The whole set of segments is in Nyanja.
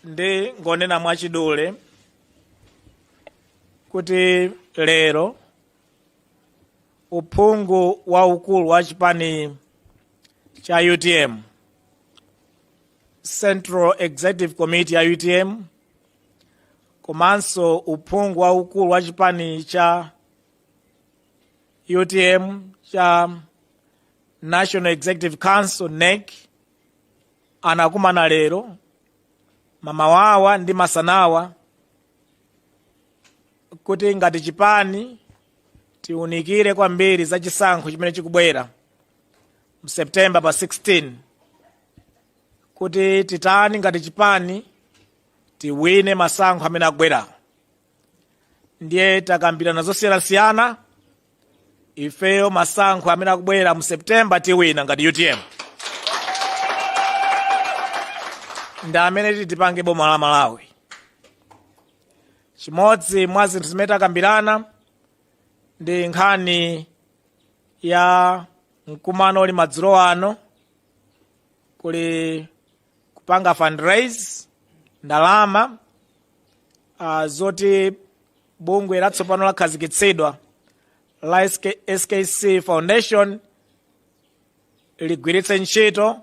ndingonena mwachidule kuti lero uphungu waukulu wa chipani cha utm central executive committee ya utm komanso uphungu waukulu wa chipani cha utm cha national executive council nec anakumana lero mamawawa ndi masanawa kuti ngati chipani tiunikire kwambiri za chisankho chimene chikubwera mu september pa 16 kuti titani ngati chipani tiwine masankho amene akubwera ndiye takambirana zosiyanasiyana ifeyo masankho amene akubwera mu september tiwina ngati utm ndi amene titi tipange boma la malawi chimodzi mwa zinthu zimene takambirana ndi nkhani ya mkumano uli madzulo ano kuli kupanga fundraise ndalama zoti bungwe latsopano lakhazikitsidwa la skc foundation ligwiritse ntchito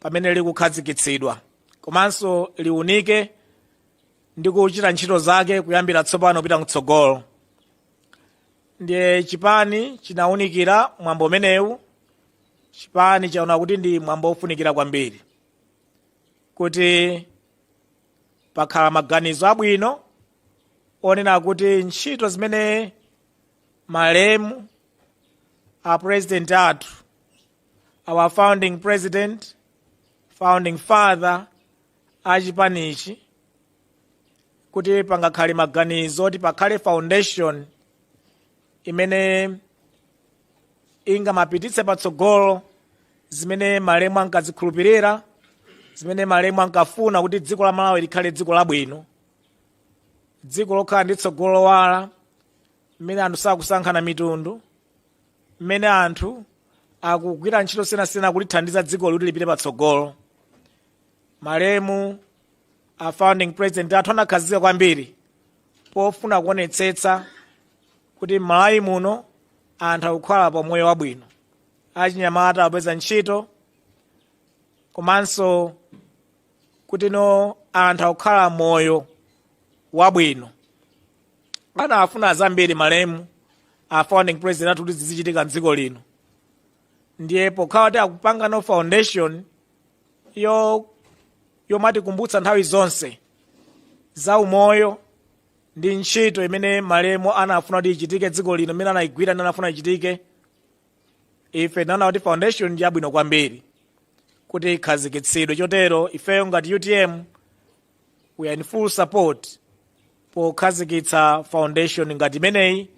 pamene likukhazikitsidwa komanso liunike ndi kuchita ntchito zake kuyambira tsopano kupita kutsogolo ndiye chipani chinaunikira mwambo umenewu chipani chaona kuti ndi mwambo wofunikira kwambiri kuti pakhala maganizo abwino onena kuti ntchito zimene malemu a president athu our founding president founding father a chipanichi kuti pangakhale maganizo oti pakhale foundation imene ingamapititse patsogolo zimene malemu ankazikhulupirira zimene malemu ankafuna kuti dziko la malawi likhale dziko labwino dziko lokhala ndi tsogolo lowala mmene anthu sakusankhana mitundu mmene anthu akugwira ntchito siyanasiyana kulithandiza dziko kuti lipite patsogolo malemu a founding president athu anakhazikika kwambiri pofuna kuonetsetsa kuti m'malawi muno anthu akukhala pa moyo wabwino achinyamata akupeza ntchito komanso kuti no anthu akukhala moyo wabwino anafuna zambiri malemu a founding president athu kuti zizichitika mdziko lino ndiye pokhala kuti akupanga no foundation yo yomwe itikumbutsa nthawi zonse za umoyo ndi ntchito imene malemu anafuna kuti ichitike dziko lino imene anayigwira ndi anafuna ichitike ife tinaona kuti foundation ndi yabwino kwambiri kuti ikhazikitsidwe chotero ifeyo ngati utm we are in full support pokhazikitsa foundation ngati imeneyi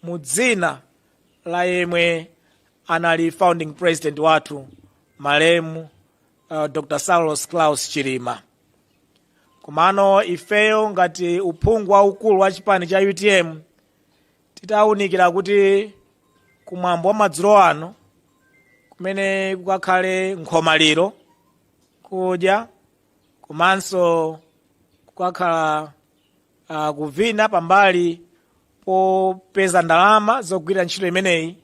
mu dzina la yemwe anali founding president wathu malemu uh, dr saulos klaus chilima komano ifeyo ngati uphungu waukulu wa chipani cha utm titawunikira kuti kumwambo wa madzulo ano kumene kukakhale nkhomaliro kudya komanso kukakhala uh, kuvina pambali popeza ndalama zogwirira ntchito imeneyi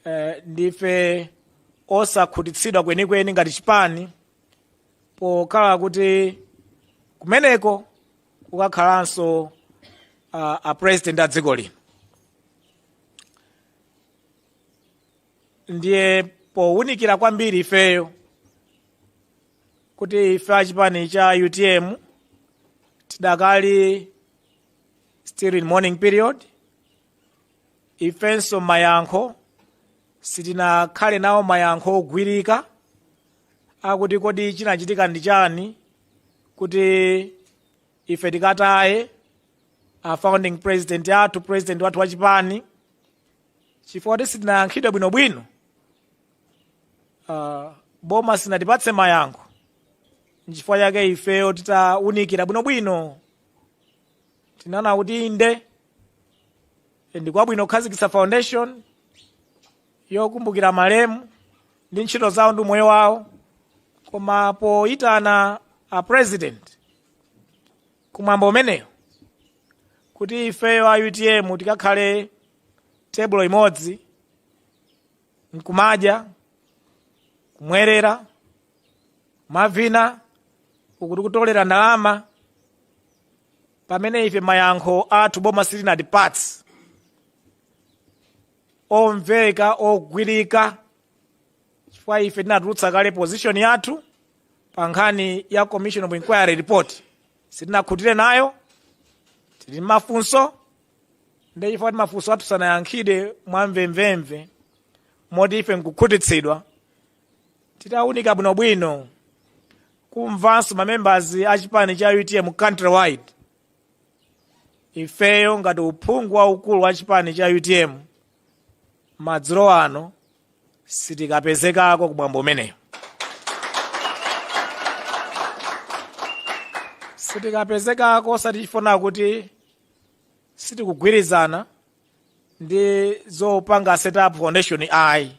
eh, ndife osakhutitsidwa kwenikweni ngati chipani pokhala kuti kumeneko kukakhalanso uh, a president a dziko lino ndiye powunikira kwambiri ifeyo kuti ife achipani cha utm tidakali still in mourning period ifenso mayankho sitinakhale nawo mayankho ogwirika akuti kodi chinachitika ndi chani kuti ife tikataye a founding president athu president wathu wachipani chifukwa kuti sitinayankhidwe bwinobwino uh, boma silinatipatse mayankho nchifukwa chake ifeyo titaunikira bwinobwino tinaona kuti inde ndi kwabwino kukhazikitsa foundation yokumbukira malemu ndi ntchito zawo ndi umoyo wawo koma poyitana a president kumwambo umenewu kuti ifeyo a utm tikakhale tebulo imodzi nkumadya kumwerera mavina uku tikutolera ndalama pamene ife mayankho athu boma silinatipatse omveka ogwirika chifukwa ife tinatulutsa kale position yathu pa nkhani ya commission of inquiry report sitinakhutire nayo tili mmafunso ndi chifukwa kuti mafunso athu sanayankhidwe mwamvemvemve moti ife nkukhutitsidwa titaunika bwinobwino kumvanso mamembers a chipani cha utm countrywide ifeyo ngati uphungu waukulu wa chipani cha utm madzulo ano sitikapezekako ku mwambo umenewu sitikapezekako osati chifukwa kuti sitikugwirizana ndi zopanga set up foundation ayi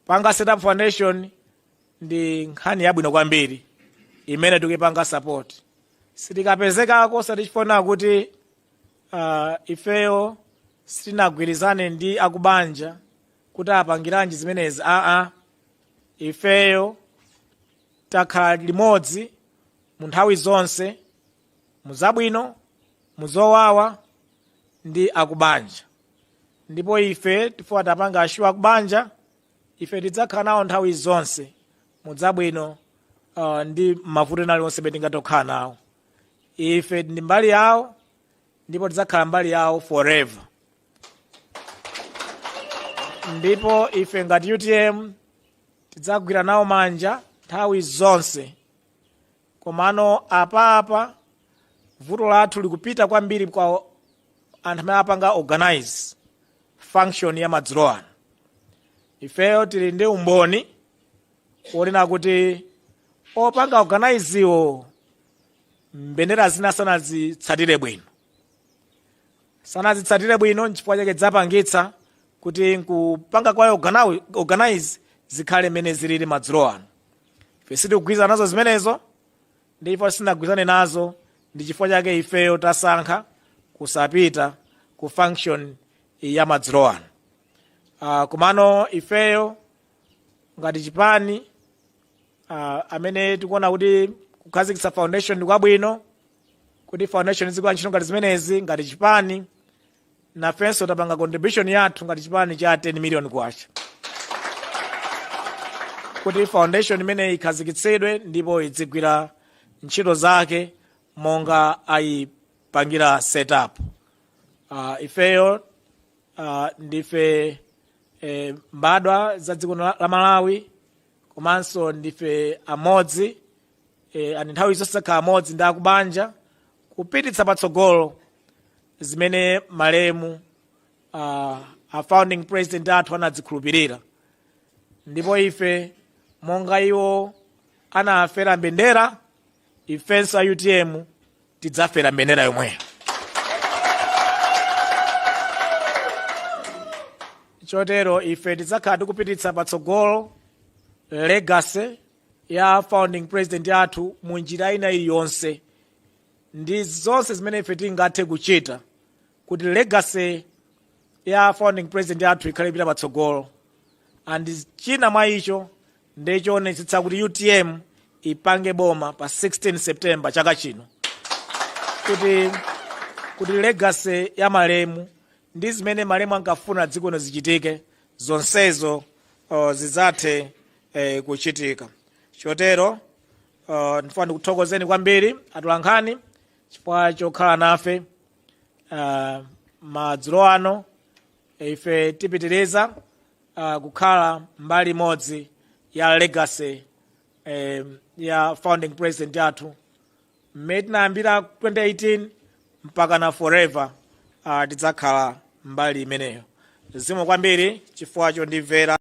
kupanga set up foundation ndi nkhani yabwino kwambiri imene tikuyipanga support sitikapezekako osati chifukwa kuti uh, ifeyo sitinagwirizane ndi akubanja kuti apangiranji zimenezi aa ifeyo takhala limodzi mu nthawi zonse mu zabwino mu zowawa ndi akubanja ndipo ife tifuna tiwapange assure akubanja ife tidzakhala nawo nthawi zonse mu zabwino uh, ndi mavuto ena aliwonse amene tingatokhala nawo ife ndi mbali yawo ndipo tidzakhala mbali yawo forever ndipo ife ngati utm tidzagwira nawo manja nthawi zonse komano apapa vuto lathu likupita kwambiri kwa anthu amene apanga organize function ya madzulo ano ifeyo tili ndi umboni wonena kuti opanga organizewo mbendera zina sanazitsatire bwino sanazitsatire bwino nchifukwa chake dzapangitsa kuti nkupanga kwawo organi- organize zikhale mmene zilili madzulo ano ife sitikugwirizana nazo zimenezo ndipo sitinagwirizane nazo ndi chifukwa chake ifeyo tasankha kusapita ku function ya madzulo ano uh, komano ifeyo ngati chipani uh, amene tikuona kuti kukhazikitsa foundation ndi kwabwino kuti foundation izigwira ntchito ngati zimenezi ngati chipani nafenso tapanga contribution yathu ngati chipani cha 10 million kwacha kuti foundation imeneyi ikhazikitsidwe ndipo idzigwira ntchito zake monga ayipangira setup uh, ifeyo uh, ndife eh, mbadwa za dziko la la malawi komanso ndife amodzi e, and nthawi zonse takhala amodzi ndi akubanja kupititsa patsogolo zimene malemu uh, a founding president athu anadzikhulupirira ndipo ife monga iwo anafera mbendera ifenso a utm tidzafera mbendera yomweyo chotero ife tidzakhala tikupititsa patsogolo legacy ya founding president athu mu njira ina iliyonse ndi zonse zimene ife tingathe kuchita kuti legacy ya founding president yathu ikhale ikupita patsogolo and china mwa icho ndi choonetsetsa kuti utm ipange boma pa 16 september chaka chino kuti legacy ya malemu ndi zimene malemu ankafuna dziko lino zichitike zonsezo uh, zidzathe eh, kuchitika chotero uh, ndifuna ndikuthokozeni kwambiri atolankhani chifukwa chokhala nafe uh, madzulo ano ife tipitiriza uh, kukhala mbali imodzi ya legacy um, ya founding president yathu mmene tinayambira 2018 mpaka na forever uh, tidzakhala mbali imeneyo zikomo kwambiri chifukwa chondimvera